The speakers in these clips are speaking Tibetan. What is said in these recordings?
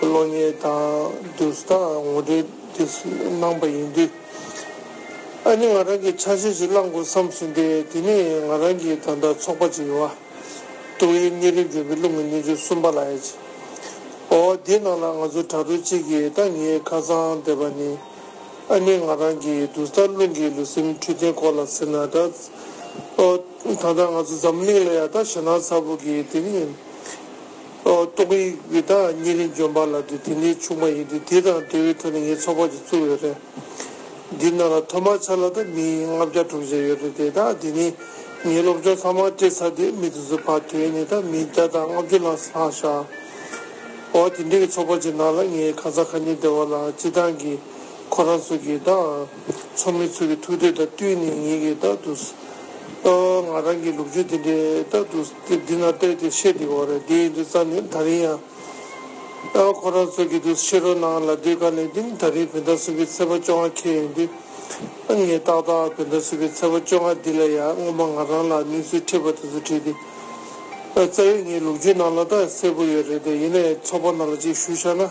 བློ་ངན་དང་བསྡུར་ཟླ་ངོ་འདྲེ་འདི་སྣང་པ་ཡིན་དུས། ཨ་ནི་ང་རང་གིས་ཆ་ཤས་ཤིག་བླངས་དགོས་བསམ་ཟིན་ཏེ་དེ་ནི་ང་རང་གི་ད་ལྟ་ཚོགས་པ་ཅིག་ཡོད། ཏོག་དབྱིབས་གཉན་རིམས་འབྱུང་པོའི་གླུ་ངོ་ཉིས་བཅུ་གསུམ་པ་ལ་ཨེ་ཅི། འོ་དེའི་ནང་ལ་ང་ཚོ་དྲ་གྲོགས་གཅིག་གིས་ད་ངའི་ཁ་རྩང་བསྡད་པ་ནི། ཨ་ནི་ང་རང་གིས་བསྡུར་ཟླ་རླུང་གི་ལུས་སེམས་འཕྲོད་བསྟེན་སྐོར་ལ་ཟེར་ན་ད། ད་ལྟ་ང་ཚོ་འཛམ་གླིང་ལ་ཡང་ད་ཞེད་སྣང་ཚ་པོ་གིས་དེ་ནི། ཏོག་དབྱིག་གི་བདག་གཉེར་རིན་འབྱུང་པ་ལགས་ཏེ་དེ་ནི་ཆུང་མ་ཡིན་ཏེ་དེ་དང་སྡེ་བའི་ཁྲོད་ནས་ངའི་ཚོགས་པ་ཅིག་བཙུགས་ཡོད་རེད། འདི་རྣམས་ལ་ཐོག་མར་ཆ་ལག་དང་མི་ཡིས་ལྔ་བརྒྱ་དྲུག་བརྒྱ་ཡོད་རེད་དེ་དག་དེ་ནི་ངའི་སློབ་སྦྱོང་ཚང་མ་སྤྲད་ཚར་དུས་མི་དེ་ཚོ་བར་དོའི་ནས་དང་མིའི་བརྒྱ་དང་ལྔ་བཅུ་ལྷག་ལྷག་བཞག་འོ་དེ་འདྲའི་གི་ཚོགས་པ་ཅིག་ནང་ལ་ངའི་ཁ་ཚ་ཁ་ཉིན་སྡེ་བ་ལ་སྤྱི་བཏང་གིས་ཁོ་རང་ཚོ་གིས་བདག་ཚོགས་མི་ཚོ་གི་ཐུགས་འདོད་དང་བསྟུན་ནས་ངེད་ཀྱིས་རྟག་ཏུ་ལྟ་བ་ང་རང་གི་ལུག་ཁྱུ་དེ་འདྲས་རྟག་ཏུ་དེ་འདི་ན་བལྟས་ཏེ་བཤད་དེ་འོ་རེད་འདི་ཡིན་འདི་རྩ་ནི་ད་རིང་ཡང་ལྟ་བ་ཁོ་རང་ཚོ་གི་འདུག་ཕྱི་རོལ་ནང་ལ་སྡོད་དཀའ་ནས་འདི་ནི་ད་རིང་བོད་ཟླ་གསུམ་པའི་ཚེས་པ་བཅོ་ལྔ་ཁེལ་ཡོང་དུས་ཨ་ངས་ཏག་ཏག་བོད་ཟླ་གསུམ་པའི་ཚེས་པ་བཅོ་ལྔ་འདི་ལ་ཡང་སྔོན་མ་ང་རང་ལ་གནས་ཚུལ་འཁྲིད་པ་དེ་ཚོ་བྲིས་ཏེ་རྩ་ཡོད་ངའི་ལུག་ཁྱུའི་ནང་ལ་ད་གསལ་པོ་ཡོད་རེད་དེ་ཡིན་ན་ཡང་ཚོགས་པ་ནང་ལ་ཅིག་ཞུ་བྱ་ན།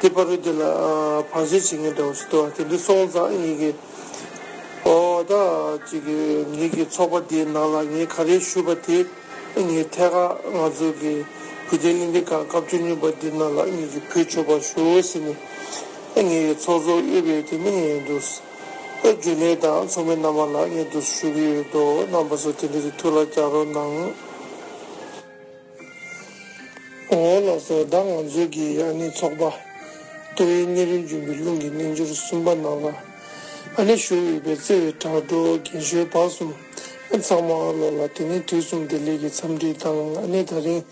དེ་པར་རུ་དེ་ལ་བར་ཆད་བྱེད་མཁན་འདྲ་བོ་ཞིག་འདུག་ཨ་དེ་འདྲ་སོང་ཙང་ཨེ་ཡིན་གི། འོ་ད་ཅིག་གི་ངེད་ཀྱི་ཚོགས་པ་འདིའི་ནང་ལ་ངས་ག་རེ་ཞུས་པ་དེ་ངའི་ཐད་ཀར་ང་ཚོ་གི་བོད་བསྟན་བླིན་ལྡན་ཁང་སྐབས་བཅུ་གཉིས་པ་འདི་ནང་ལ་ངེད་ཀྱི་བུ་ཆོས་པར་ཞུ་ཟེར་ནས་ངའི་ཚོགས་གཙོ་གཡོལ་བའི་དེ་ནི་ངས་འདུག་རྒྱུན་ལས་དང་ཚོགས་མི་རྣམ་པ་ལ་ངས་འདུག་ཞུ་གི་ཡོད་འདུག་རྣམ་པ་ཚོ་དེ་འདྲ་དེ་ཐུགས་ལ་རྒྱག་རོགས་གནང། འོ་ལགས་སོ་ད་ང་ཚོས་ཀྱི་ཡང་ནི་ཚོགས་པ། ལྟེ་བའི་གནས་རིམ་རྒྱུན་པའི་རླུང་གི་རྣལ་འབྱོར་གསུམ་པ་ནང་ལ། ཨ་ནེ་ཞོ་དབྱུག་པའི་རྩེ་བའི་དྲག་སྒྲོག་རྒན་ཞོལ་བག་གསུམ་ཚང་མ་བློ་ལ་དེ་ནས་དུས་གསུམ་བདེ་ལེགས་ཀྱི་འཚམས་འདྲི་དང་ཨ་ནེ་ད་རིང།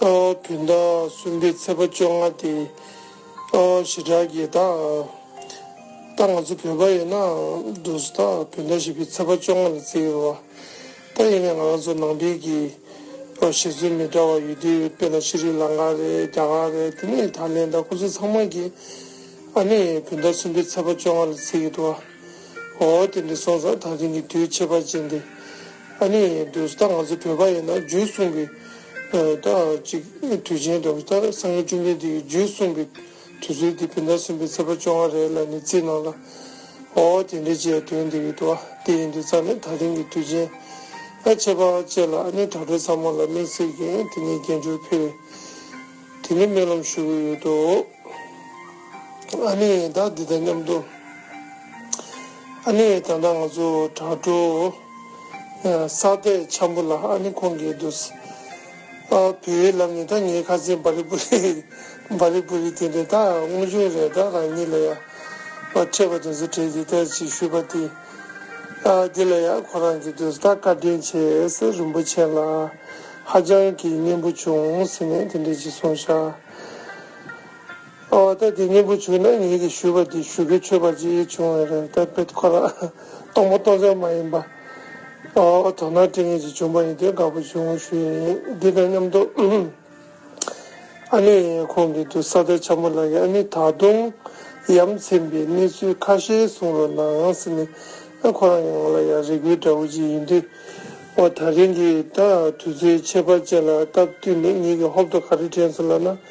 བོད་ཟླ་གསུམ་པའི་ཚེས་པ་བཅོ་ལྔ་སྟེ། ཞེ་དྲག་གི་ད། ད་ང་ཚོ་བོད་པ་ཡིན་ན། བདུད་རྩི་ད་བོད་ཟླ་བཞི་པའི་ཚེས་པ་བཅོ་ལྔ་ལ་བརྩི་ཡོད་པ། ད་ཡིན་ནའི་ང་རང་ཚོ་ནང་བསྟན་གྱི་ལོ་བཞི་ཚོད་མི་འདྲ་བ་ཡོད་དུས་དཔེར་ན་ཤྲི་རི་ལང་ཀ་རེད་རྒྱ་གར་རེད་དེ་ནས་ཐའི་ལེན་ད་ཁོ་ཚོ་ཚང་མ་གི་ཨ་ནི་བུན་ད་གསུམ་པའི་ཚེ་པ་བཅོ་ལྔ་ལ་ཚེ་ཡོད་དུ་བ་འོ་དེ་འདྲ་སོང་ཙང་ད་དེང་གི་དུས་ཆད་པ་བྱེད་འདི་ཨ་ནི་འདོད་ད་ང་ཚོ་བོད་པ་ཡིན་ན་རྒྱུད་གསུང་གི་ད་ཅིག་དུས་ཆེན་འདོད་ད་སངས་རྒྱས་བཅོམ་ལྡན་འདས་ཀྱི་རྒྱུད་གསུང་གི། དུས་ཚོད་འདི་བོད་ཟླ་གསུམ་པའི་ཚེས་པ་བཅོ་ལྔ་རེད་ལ་ནི་རྩིས་གནང་ལ། ཨོ་དེ་འདྲའི་ཅེས་དོན་འདི་ཡོད་དོ། དེ་ཡིན་དུས་རྩ་ནས་ད་ཐེངས་ཀྱི་དུས་ཆེན་ཨ་ཆེ་པ་བཅས་ལ་ཨ་ནི་དྲ་གྲོགས་ཚང་མ་ལ་གླེང་གསེར་གྱི་དེ་ནས་རྒྱལ་འབྱོར་ཕེར་བའི་དེ་ནས་སྨོན་ལམ་ཞུ་གི་ཡོད་དོ། ཨ་ནི་ཡང་དག་འདི་དང་མཉམ་དུ་ཨ་ནི་ཡང་དག་ང་ཚོ་དྲ་གྲོགས་ས་དེ་འཆམ་པོ་ལ་ཨ་ནི་ཁོང་གིས་དུས། བོད་ཡིག་ལབ་ནས་ད་ངའི་ཁ་ཟས་འབའ་རི་པུ་རི། འབའ་རི་པུ་རི་དེ་འདྲས་ད་སྔོན་བྱུང་རེད་ད་རང་ཉིད་ལ་ཡང་འཕྲད་པ་དུས་ཚོད་བྲལ་ཏེ་ད་ཅིག་ཤོད་པ་དེ། འདི་ལ་ཡང་ཁོ་རང་གིས་དུས་ད་བཀའ་དྲིན་ཆེ་ཟེར་རིན་པོ་ཆེན་ལ་ཧ་ཅང་གིས་སྙན་པོ་བྱུང་ཟེར་ནས་དེ་འདྲས་ཅིག་གསུངས་བཞག། ཨོ་ད་དེ་སྙན་པོ་བྱུང་ན་ངེད་ཀྱི་ཞུས་པ་དེ་ཞུ་གི་ཆོས་པ་ཅིག་བྱུང་བས་རེད་ད་དཔེ་ཁོ་རང་སྟོང་པ་སྟོང་ཟད་མ་ཡིན་པ། ཨོ་དོ་ནང་བཀྲིན་ངེད་ཅིག་བྱུང་པ་ཡིན་དེ་དགའ་པོ་བྱུང་ཞུ་ཡི་ཡིན་འདི་དང་མཉམ་དུ་ཨ་ནེ་ཡང་ཁོང་གི་དུ་ས་ད་ཆ་མོ་ལགས་ཀྱི་ཨ་ནེ་ད་དུང་ཡམ་ཚན་པའི་གནས་ཚུལ་ཁ་ཤས་གསུང་རོགས་གནང་ཟེར་ནས་ཨ་ཁོ་རང་གི་ངོ་ལ་ཡང་རེ་སྐུལ་འདྲ་བོ་ཅིག་ཡིན་དུས་ཨོ་ད་རིང་གི་ད་དུས་ཚོད་ཁྱད་པར་ཅན་ལ་སྟབས་བསྟུན་ནས་ངེད་ཀྱི་ཧོབ་ཏུ་ག་རེ་དྲན་སོང་ལབ་ན།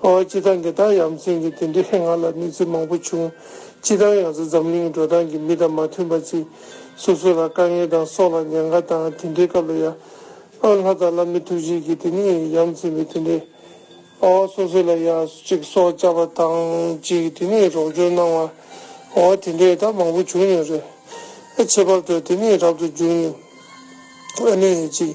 ཨོ་ཨ་ཅི་ད་འདི་དག་ཡ་མཚན་གི་དེ་འདྲི་ང་ལ་མིག་ཚིག་མང་པོ་བྱུང། ཅི་དང་ཡང་ཚོ་འཛམ་གླིང་གི་འགྲོ་སྟངས་ཀྱི་མི་དང་མ་མཐུན་པ་ཚིག། སོ་སོ་ལ་དཀའ་ངལ་དང་སྲོག་ལ་ཉེན་ཁ་དང་དེ་འདྲི་སྐབས་ལ་ཡ། ཨོ་ལྷ་དང་བླ་མི་ཐུགས་རྗེ་གི་དེ་ནི་ཡ་མཚན་མི་དེ་འདྲི། ཨོ་སོ་སོ་ལ་ཡ་ཅིག་སྲོག་བཅག་པ་དང་ཅིག་དེ་ནི་རོགས་སྐྱོར་གནང་བ། ཨོ་དེ་འདྲས་ད་མང་པོ་བྱུང་ཡོད་རེད། ཨེ་ཆེ་བབ་ཏུ་དེ་ནི་རབ་ཏུ་འབྱུང་ཡིན། ཨ་ནི་ཡ་ཅིག།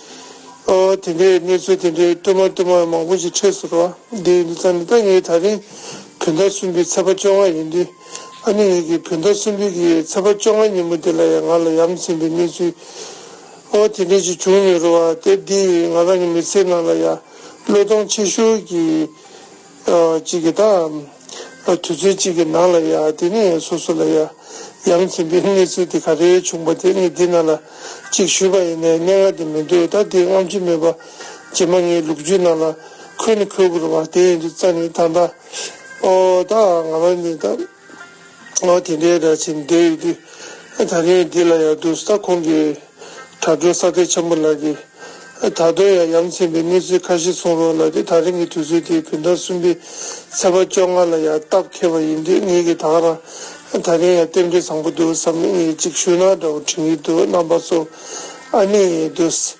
དེ་འདྲའི་གནས་ཚུལ་དེ་འདྲའི་བསྟུད་མར་བསྟུད་མར་མང་པོ་ཞིག་འཕྲད་སྲིད་པ་འདི་འདི་ཙམ་ལྟ་ངའི་ད་རིང་བོད་ཟླ་གསུམ་པའི་ཚེས་པ་བཅོ་ལྔ་ཡིན་དུས་ཨ་ནེ་ངེད་ཀྱིས་བོད་ཟླ་གསུམ་པའི་གི་ཚེས་པ་བཅོ་ལྔ་ཉིན་མོ་དེ་ལ་ཡང་ང་ལ་ཡ་མཚན་པའི་གནས་ཚུལ་དེ་འདྲ་ཞིག་བྱུང་མི་རུང་བ་སྟེ་འདིས་ང་རང་གི་མི་ཚེའི་ནང་ལ་ཡ་བློ་གཏོང་ཆེ་ཤོས་ཀྱི་གཅིག་གིས་དང། དུས་ཚོད་གཅིག་གི་ནང་ལ་ཡ་དེ་ནས་སོ་སོ་ལ་ཡ། ཡང་མཁྱེན་པའི་གནས་ཚུལ་དེ་ག་རེ་བྱུང་བ་དེ་ངས་འདི་ན་ལ་གཅིག་ཞུས་པ་ཡིན་ནས་གནས་ངག་དེ་མི་འདོད་ད་དེ་རྔམ་བརྗིད་མེད་པ། རྗེས་མ་ངའི་ལུག་རྒྱུད་ནང་ལ་ཁོལ་ནི་ཁོལ་དགོས་རེད་བ་དེ་ཡིན་དུས་རྩ་ནས་ད་ད། ཨོ་ད་ང་ལ་ནི་ད། ཨོ་དེ་འདྲའི་སྒྲ་ཆེན་འདི་ཡོད་དུས། ད་རིང་འདི་ལ་ཡང་དུས་ས་ཁོངས་ཀྱི་དྲ་གྲོགས་ས་སྟེགས་ཆེན་པོ་ལགས་ཀྱིས། ད་དུང་ཡང་ཡ་མཚན་པའི་གནས་ཚུལ་ཁ་ཤས་གསུང་རོགས་ལབ་སྟེ་ད་རིང་གི་དུས་ཚོད་དེ་བོད་ཟླ་གསུམ་པའི་ཚེས་པ་བཅོ་ལྔ་ལ་ཡང་སྟབས་ཁེལ་བ་ཡིན་དུས་ངེད་ཀྱིས་དྭགས་ར་ད་རིང་ཡང་རྟེན་འབྲེལ་བཟང་པོ་འདུག་བསམ་ནས་ངས་ཅིག་ཤོས་ནང་སྒྲ་བོ་འཕྲིན་ཡིན་དུས་རྣམ་པ་ཚོ་ཨ་ནེ་ཡིན་དུས།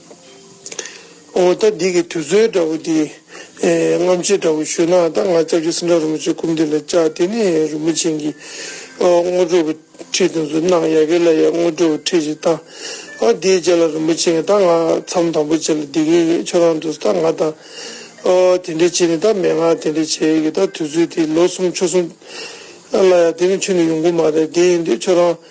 ཨོ་ད་འདི་གི་དུས་ཚོད་འདྲ་བོ་འདི། རྔམ་བྱེད་འདྲ་བོ་ཞུས་ན་ད་ང་ཅག་གི་སེམས་ཁྲལ་རིན་པོ་ཆེ་ཀུམ་འདི་ལ་བཅག་དེ་ནས་རིན་པོ་ཆེན་གྱི་སྔོ་དྲོ་བའི་ཁྲིད་དེ་ཚོ་གནང་ཡག་གི་ལ་ཡག་སྔོ་དྲོ་བའི་ཁྲིད་ཞིག་གཏང། དེའི་རྗེས་ལ་རིན་པོ་ཆེན་གྱི་ད་ང་མཚམས་དམ་པོ་བྱེད་ལ་འདི་གི་ཆོས་ཁང་དུ་ད་ང་ད་དེ་འདྲས་བྱེད་ནས་ད་མན་ངག་དེ་འདྲས་བྱེད་ཡག་གི་ད་དུས་ཚོད་དེ་ལོ་གསུམ་ཆུ་གསུམ་ལ་ཡག་དེ་ནས་ཆུ་ནས་ཡོང་གི་མ་རེད་དེ་ཡིན་དུས་ཆོས་ཁང།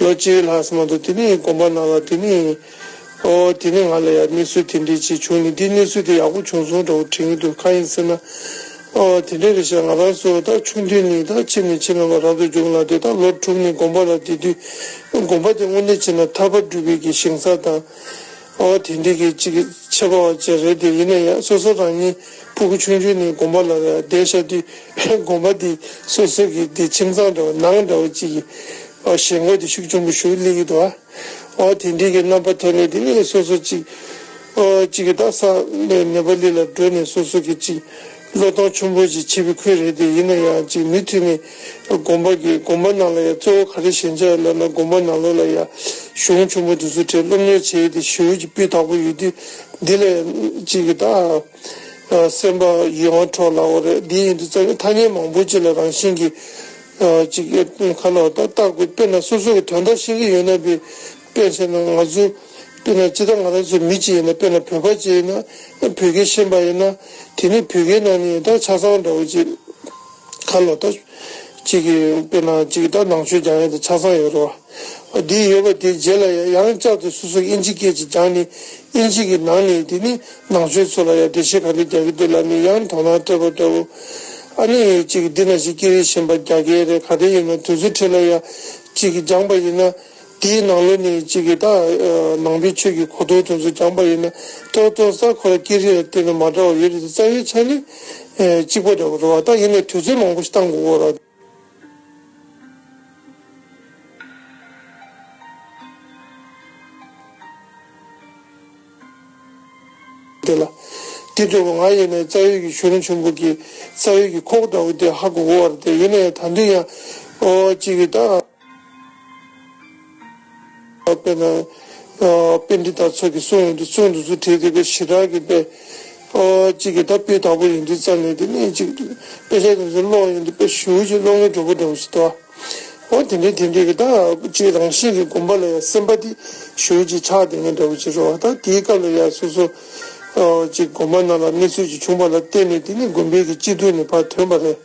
ལོ་གཅིག་ལྷག་སོང་མ་འདུག་དེ་ནས་དགོངས་པ་གནང་ལ་དེ་ནས་ཨོ། དེ་ནས་ང་ལ་ཡང་གནས་ཚུལ་དེ་འདྲའི་ཅིག་བྱུང་ནས་འདིས་གནས་ཚུལ་དེ་ཡག་པོ་བྱུང་སོང་འདྲ་བོ་དྲན་གྱི་འདུག་གང་ཡིན་ཟེར་ན། ཨོ། དེ་འདྲ་རེད་བྱས་ང་རང་ཚོ་ད་ཆུང་དུས་ནས་ད་ཕྱི་ནས་ཕྱི་ལམ་ལ་རབ་ཏུ་རྒྱུགས་ལ་དེ་ད་ལོ་དྲུག་ནས་དགོངས་པ་ལ་བསྡད་དུས་དགོངས་པ་དེ་དངོས་གནས་བྱས་ན་ཐར་པ་སྒྲུབ་པའི་གི་ཞིང་ས་དང། ཨོ་དེ་འདི་གི་ཅིག་ཆད་པ་བ་ཅི་རེད་དེ་ཡིན་ན་ཡང་སོ་སོ་རང་ཉིད་ཕུ་གུ་ཆུང་ཆུང་ནས་དགོན་པ་ལ་བསྡད་ཤག་དུས་དགོན་པ་དེ་སོ་སོ་གི་དེ་ཁྱིམ་ཚང་འདྲ་བ་ནང་འདྲ་བ་ཅིག་གི་ཞེན་གོ་དེ་ཤུགས་ཆུང་པོ་ཞུ་ལེ་གི་འདུག་ཨོ་དེ་འདི་གི་རྣམ་པ་ཐོན་ནས་དེ་སོ་སོ་ཅིག་ཨོ་ཅིག་གི་དག་ས་ལས་ནད་པ་ལི་ལ་འགྲོ་ནས་སོ་སོ་གི་ཅིག་བློ་ལྡོག་ཆུང་བོ་ཞིག་བྱེད་པའི་ཁུལ་རེད་དེ་ཡིན་ན་ཡང་ཅིག་མི་མཐུན་ནི། དགོན་པ་དགེ་དགོན་པ་རྣམས་ལ་ཡང་གཙོ་བོ་ག་རེ་ཞན་ཆ་ཡོད་ལབ་ན་དགོན་པ་ནང་ལོགས་ལ་ཡང་གཞུང་ཆུང་བོ་དེ་ཚོའི་གྲས་སློབ་གཉེར་བྱེད་དེ་ཞུ་ཅིག་སྤུས་དག་པོ་ཡོད་དུས་འདི་ལ་ཡང་ཅིག་གི་དང། སེམས་པ་ཡིད་དབང་འཕྲོག་སླ་བོ་རེད་དེ་ཡིན་དུས་རྩ་བའི་ཐ་སྙད་མང་པོ་ཅིག་ལ་རང་བཞིན་གྱིས་ཅིག་ཁ་ལོ་བཏགས་པའི་དཔེར་ན་སོ་སོ་གི་དོན་དག་ཤེས་ཀྱི་ཡོད་ན་པའི་དཔེར་བཤད་ན་ང་ཚོས། དཔེར་ན་ཅི་ལྟར་ང་རང་ཚོ་མི་གཅིག་ཡིན་ན་དཔེར་ན་བོད་པ་གཅིག་ཡིན་ན། བོད་སྐད་ཤེས་པ་ཡིན་ན། དེ་ནི་བོད་སྐད་ནང་ནས་ཡང་དག་ཆ་ཚང་འདྲ་བོ་གཅིག། ག་ལོག་ལྟ། གཅིག་གིས་དཔེར་ན་གཅིག་གི་ད་ནང་ཆོས་སྦྱང་ཡུལ་དང་ཆ་ཚང་ཡོད་རེད་བ། དེ་ཡོད་པ་དེའི་རྗེས་ལ་ཡང་ཡང་བསྐྱར་དུ་སོ་སོ་ཨིན་ཇི་སྐད་ཅིག་སྦྱངས་ནས་ཨིན་ཇི་གི་ནང་ནས་དེ་ནི་ནང་ཆོས་ཚོ་ལ་ཡང་འགྲེལ་བཤད་ག་འདྲ་རྒྱག་གི་འདུག་ལབ་ནས་ཡང་དོ་སྣང་སྤྲད་པ་འདྲ་བོ། ཨ་ནི་ཡང་གཅིག་གིས་འདི་ན་ཞིག་སྐད་རིགས་གཞན་པ་རྒྱག་གི་རེད་ག་དེ་ཡིན་ན་དུས་ཚོད་ཁྲིད་ལ་ཡང་གཅིག་གིས་སྦྱངས་པ་ཡིན་ན། དེའི་ནང་ལོ་ནི་གཅིག་གིས་དག། ནང་པའི་ཆོས་ཀྱི་གོ་དོན་དོན་ཚུལ་རྐྱང་པ་ཡིན་ན་ཏོ། ཏོ་རྩ་འཁོར་ལ་སྐྱེ་རིང་ལ་བརྟེན་ནས་མ་འདྲ་བ་ཡོད་རེད་དེ་རྩ་བའི་ཆ་ནི། གཅིག་པ་འདྲ་བོ་འགྲོ་བ་དང་ཡིན་ནས་དུས་ཚོད་མང་པོ་ཞིག་བཏང་དགོས་སྐོར་རོ། དེ་ལ་དེ་འདྲ་བོ་འང་ཡིན་ནས་རྩ་ཡོད་ཀྱི་ཞུ་རིན་ཆུན་པོ་གིས་རྩ་ཡོད་ཀྱི་ཁོག་འདྲ་བོ་དེ་ཧ་གོ་དགོས་བ་རེད་དེ་ཡིན་ནས་ད་འདི་ཡང། ཨོ། གཅིག་གིས་དག། དཔེར་ན། དཔེ་འདི་ལྟར་ཚོགས་ཀྱི་སྲོལ་ཡོན་དུ་བརྩོན་དུ་ཚུལ་ཁྲིམས་དེ་ཀ་ཞི་དྲག་གི་དཔེ། གཅིག་གིས་ད་སྤུས་དག་པོ་ཡིན་དུས་རྩ་ནས་དེ་གནད་གཅིག་ཏུ་དཔེ་ཆ་དེ་ཚོ་ཀློག་ཡོང་དུས་དཔེ་གཞུག་ཅིག་ཀློག་མཁན་གྲོགས་པོ་འདྲ་བོ་ཞིག་དོ། འོ་དེ་འདྲའི་དེ་འདྲའི་གི་ད་ཅིག་རང་བཞིན་གྱི་སྒོམ་པ་ལ་ཡང་སེམས་པ་དེ་གཞུག་ཅིག་ཕྱག་འདེབས་མཁན་འདྲ་བོ་ཅིག་རོ། ད་དེའི་སྐབས་ལ་ཡང་སོ་སོ་ཅིག་སྒོམ་པ་རྣམས་ལ་གནས་ཚུལ་ཅིག་བྱུང་བ་ལ་བརྟེན་ནས་དེ་ནི་སྒོམ་པའི་གི་སྤྱི་ཐུན་ནས་བར་ཐོན་པ་རེད།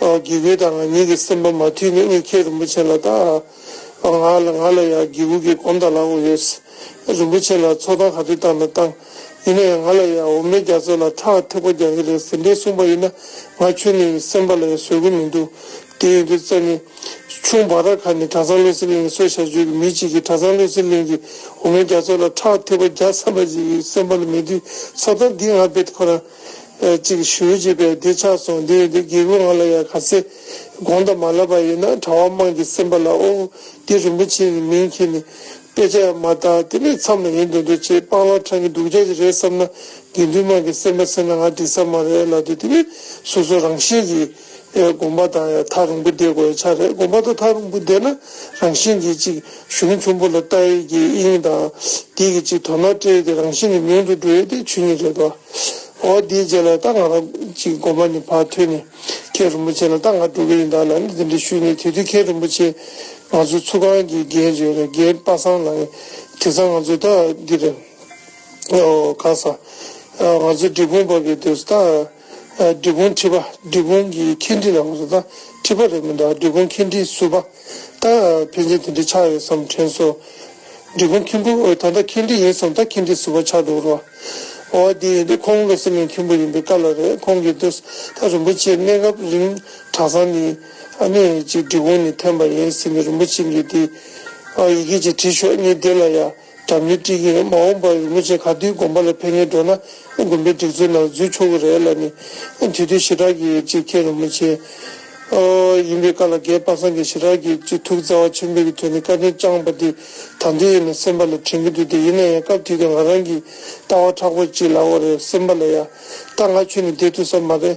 དགེ་བསྐུལ་དང་ང་ཉིད་ཀྱི་སེམས་པ་མ་ཐུལ་ནས་ཨེ་ཁྱེད་རིན་པོ་ཆེ་ལ་བལྟ། ང་ལ་ང་ལ་ཡང་དགེ་བསྐུལ་གྱི་གོམ་ད་ལག་འོ་ཡོད། རིན་པོ་ཆེ་ལ་ཚོགས་དང་ག་དུས་བཏང་ན་བཏང། ཡིན་ན་ཡང་ང་ལ་ཡང་འོ་མའི་རྒྱ་མཚོ་ལ་ཁྲག་ཐེག་པ་རྒྱག་གི་རེད་ཟེར་འདྲའི་གསུངས་པ་ཡིན་ན་ང་ཁྱོད་ནི་སེམས་པ་ལ་ཡང་བཟོད་གི་མི་འདུག་དེ་ཡིན་དུས་བཙལ་ནི། ཆུང་བ་ར་ཁ་ནས་གྲྭ་ཚང་བློ་སེང་གླིང་གི་སོ་བཞག་ཆོས་ཀྱི་མི་གཅིག་གིས་གྲྭ་ཚང་བློ་སེང་གླིང་གི་འོ་མའི་རྒྱ་མཚོ་ལ་ཁྲག་ཐེག་པ་རྒྱག་བསམ་པ་ཞིག་སེམས་པ་ལ་མེད་དུས་ཚོགས་དང་འདི་ང་བེད་ཁོ་རང་ཅིག་ཞུས་བྱས་པས་འདི་ཆགས་སོང་འདི་ཡོད་འདི་དགེ་བའི་ང་ལ་ཡང་ག་ཚད་དགོངས་དག་མ་ལབ་པ་ཡིན་ན་གྲྭ་བ་དམངས་ཀྱི་སེམས་པ་ལ་ཨོ་འདི་རིན་པོ་ཆེ་ནི་མིང་གིས་ནི་དཔེ་ཆ་ཡང་མ་བཏགས་དེ་ནི་མཚམས་ལ་ཡིན་འདོད་འདོད་ཅེས་སྤང་བླང་དྲངས་ཀྱི་འདུག་ཆ་ཞིག་རེད་བསམ་ན་དགེ་འདུན་དམངས་ཀྱི་སེམས་པ་ཚད་ན་ང་འགྲིག་ས་མ་རེད་ལབ་དུས་དེ་ནི་སོ་སོ་རང་བཞིན་གྱིས། དགོངས་པ་དང་ཡང་ཐག་རིང་པོ་འདེད་དགོས་ཆགས་རེད་དགོངས་པ་དང་ཐག་རིང་པོ་འདེད་ན་རང་བཞིན་གྱིས་ཅིག་གཞུང་ཚོམ་བུ་ལ་ལྟ་ཡུལ་གྱི་དབྱིངས་དང་དེ་གི་ཅིག་དོ་སྣང་སྤྲད་ཡུལ་གྱི་རང་བཞིན་ནི་མིང་དུ་འགྲོ་ཡུལ་དེ་ཆོས་ཉིད་རེད་དོ། འོ་དེའི་རྗེས་ལ་ད་ང་རང་ཅིག་དགོངས་པ་ནི་བར་དོའི་ནི་མཁན་རིན་པོ་ཆེ་ལ་ད་ང་སྒྲོ་གི་ཡིན་དག་ལ་ནི་དེ་འདྲའི་ཤུལ་ནི་དེ་དུས་མཁན་རིན་པོ་ཆེ་ང་ཚོའི་ཚུགས་ཁང་གི་རྒན་གཅིག་རེད་རྒན་དཔའ་སངས་ལགས་ཡིན་དེ་སང་ང་ཚོའི་ད་འདི་རེད་ཨོ་ག་ས་ང་ཚོའི་འབྲི་གུང་བབས་པའི་དུས་སུ་ད། སྒྲིག་བཀོད་འཁྲི་པ་སྒྲིག་བཀོད་ཀྱི་འཁེལ་འཁྲི་ལ་ངོས་བཟུང་དང་འཁྲི་པ་རེད་མི་འདུག་སྒྲིག་བཀོད་འཁེལ་འཁྲི་ཟུར་པ་དང་ཕན་ཚུན་དེ་འདྲའི་ཆགས་ཡོད་བསམ་དྲན་སོ། སྒྲིག་བཀོད་འཁེལ་འབུ་འོ་ད་ལྟ་འཁེལ་འཁྲི་ཡིན་བསམ་ད་འཁེལ་འཁྲི་ཟུར་པ་ཆགས་འདུག་རོ། འོ་དེ་ཡིན་དུས་ཁོང་བློ་སེང་གི་མཁན་པོ་ཡིན་པའི་སྐབས་ལ་རེད་ཁོང་གིས་དུས་ད་རིན་པོ་ཆེ་གནས་སྐབས་རིང་གྲྭ་ཚང་ནས་ཨ་མེ་ཡེ་ཅིག་འབྲི་གོང་ནས་ཐོན་པ་ཡིན་ཟེར་ནས་རིན་པོ་ཆེ་འགས་དེ་ཡི་གེ་ཅིག་བྲིས་ཤོག་གཉིས་དེ་ལ་ཡ། དྲ་མིག་དཀྲིས་ཀྱི་རེད་མ་འོངས་པར་རིན་པོ་ཆེ་ག་དུས་དགོན་པ་ལ་ཕེབས་ངེས་འགྲོ་ན་དགོན་པའི་སྒྲིག་འཛུགས་ནང་འཛུལ་ཆོག་གི་རེད་ལ་ནི་དུས་དུས་ཞི་དྲག་གི་ཅིག་མཁྱེན་རུང་མི་མཁྱེན་ཡིན་པའི་བཀའ་ལ་རྒས་དཔག་སངས་ཀྱི་ཞི་དྲག་གི་ཅིག་ཐུགས་རྩ་བ་ཆེན་པོས་ཀྱི་དོན་ནི་བཀའ་དྲིན་བསྐྱངས་པ་དེ་དང་དུས་ཡིན་ན་སེམས་པ་ལ་དྲན་གྱི་འདུག་སྟེ་ཡིན་ན་ཡང་སྐབས་དུས་ཀྱང་ང་རང་གི་ལྟ་བ་ཕྲག་པོ་ཅིག་ལ་འོ་རེད་སེམས་པ་ལ་ཡང་ད་ང་ཁྱོད་ནི་དེ་ཐུགས་ས་མ་རེད།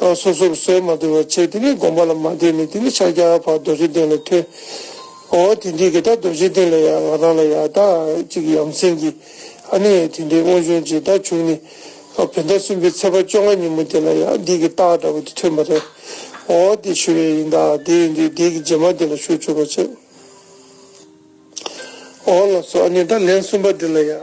ལ་སོ་སོར་གསོལ་མ་དུལ་བར་བྱེད་དེ་ནི་བསྒོམ་པ་ལ་མ་བསྟེན་ནས་དེ་ནི་ཕྱག་རྒྱ་བར་རྡོ་རྗེ་གདན་ལ་ཐོན། ཨོ་དེ་འདི་གི་ད་རྡོ་རྗེ་གདན་ལ་ཡང་ང་རང་ལ་ཡང་ད་ཅིག་ཡམ་སྲིང་གི་ཨ་ནི་ཡང་དེ་འདྲའི་དངོས་བྱུང་ཅིག་ད་བྱུང་ནི། བོད་ཟླ་གསུམ་པའི་ཚེས་པ་བཅོ་ལྔ་ཉིན་མོ་དེ་ལ་ཡང་འདི་གི་རྟགས་འདྲ་བོ་དེ་ཐོན་པ་རེད། ཨོ་དེ་ཞུ་བའི་ཡིན་ད་དེ་ཡིན་དུས་འདི་གི་རྗེས་མ་དེ་ལ་ཞུ་བཅུག་པར་བྱེད། ཨོ་ལགས་སོ་ཨ་ནི་ད་ལན་གསུམ་པ་འདི་ལ་ཡང།